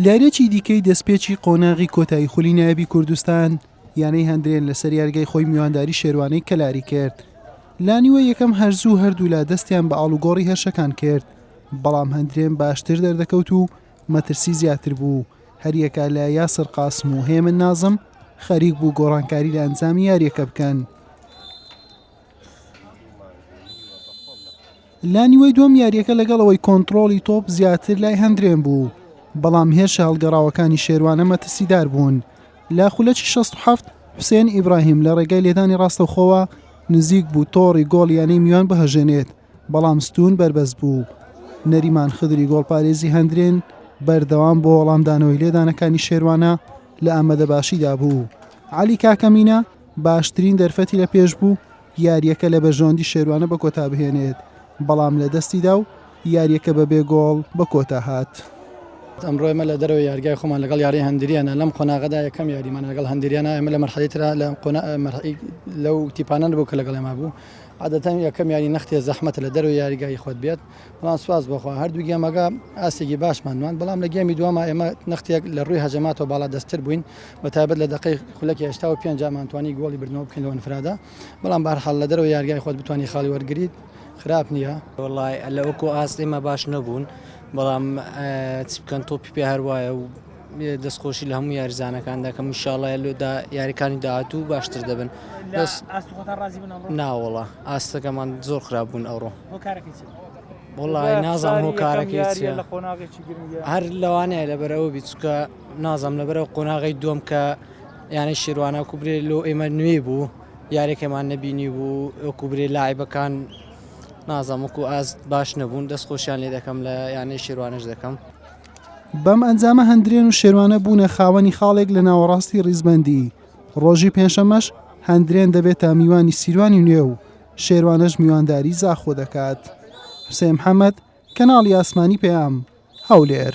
لارێکی دیکەی دەستپێکی قۆناغی کۆتایی خولی نایبی کوردستان یانەی هەندرێن لەسەر یارگای خۆی میوانداری شێروانەی کەلاری کرد لانیوە یەکەم هەرزوو هەردوولا دەستیان بە ئاڵوگۆڕی هەرشەکان کرد بەڵام هەندرێن باشتر دەردەکەوت و مەترسی زیاتر بوو هەریەکە لە یاسر قاسم و هێمن نازم خەریک بوو گۆڕانکاری لە ئەنجامی یاریەکە بکەن لانیوەی دوم یاریەکە لەگەڵ ئەوەی کۆنتترۆڵی تۆپ زیاتر لای هەندرێن بوو بەڵام هێرشە هەڵگەڕاوەکانی شێوانە مەترسیدار بوون لە خولەکی 16 حوسێن ئیبراهیم لە ڕێگەی لێدانی ڕاستەخۆوە نزیک بوو تۆڕی گۆڵ یانەی میوان بهژێنێت بەڵام ستوون بەربەست بوو. نەریمان خدری گۆڵپارێزی هەندرێن بەردەوام بۆ وەڵامدانەوەی لێدانەکانی شێروانە لە ئامەدە باشیدا بوو. عەلی کاکەمینە باشترین دەرفەتی لە پێش بوو یاریەکە لە بەرژەوەندی شێروانە بە کۆتا بهێنێت، بەڵام لە دەستیدا و یاریەکە بە بێ گۆڵ بە کۆتا هات. ئەمڕۆ ئێمە لە دەرەوەی یارگای خۆمان لەگەڵ یاری هەندریانە لەم قۆناغەدا یەکەم یاریمانە لەگەڵ هەندریانە ئێمە لە مەرحەلەی ترا لە قۆنا مەرحەی لەو تیپانە نەبوو کە لەگەڵ ئێمە بوو. عادەتەن یەکەم یاری نەختێ زەحمەتە لە دەرەوەی یاریگای خۆت بێت، بەڵام سوپاس بۆ خوا هەردوو گێمەکە ئاستێکی باشمان نواند، بەڵام لە گێمی دووەما ئێمە نەختێک لە رووی هەجەماتەوە باڵادەستتر بووین، بە تایبەت لە دەقەی خولەکی هەشتا و پێنج ئەمان توانی گۆڵی بردنەوە بکەین لەو ئەنفرادە، بەڵام بەهەرحاڵ لە دەرەوەی یاریگای خۆت بتوانی خاڵی وەرگریت خراپ نییە. وەڵا لە ئەو کۆ ئاست ئێمە باش نەبوون، بەڵام چ بکەن تۆپی پێ هەر وایە و. دەستخۆشی لە هەموو یاریزانەکان دەکەم انشاءاللە لۆدا یاریکانی داهاتوو باشتر دەبن بەس ئاست خۆتان ڕازی بوون ئەمڕۆ ناوەڵا ئاستەکەمان زۆر خراپ بوون ئەوڕۆ هۆ کارەکەی چی بوو؟ وڵی نازان هۆ کارەکەی چیە لە قۆناغێکی گرنگە هەر لەوانەیە لەبەرەوە بی چکە نازم لەبەرەوە قۆناغی دووەم کە یانەی شێروانە کوبرێ لۆ ئێمە نوێ بوو یارێکەمان نەبینی بوو کوبرێ لاعیبەکان نازم وەکو ئاست باش نەبوون دەست خۆشیان لێ دەکەم لە یانەی شێروانش دەکەم بەم ئەنجامە هەندرێن و شێروانە بوونە خاوەنی خاڵێک لە ناوەڕاستی ڕیزبەندی ڕۆژی پێنجشەممەش هەندرێن دەبێتە میوانی سیروانی نوێ و شێروانەش میوانداری زاخۆ دەکات حوسێن محەممەد کەناڵی ئاسمانی پەیام هەولێر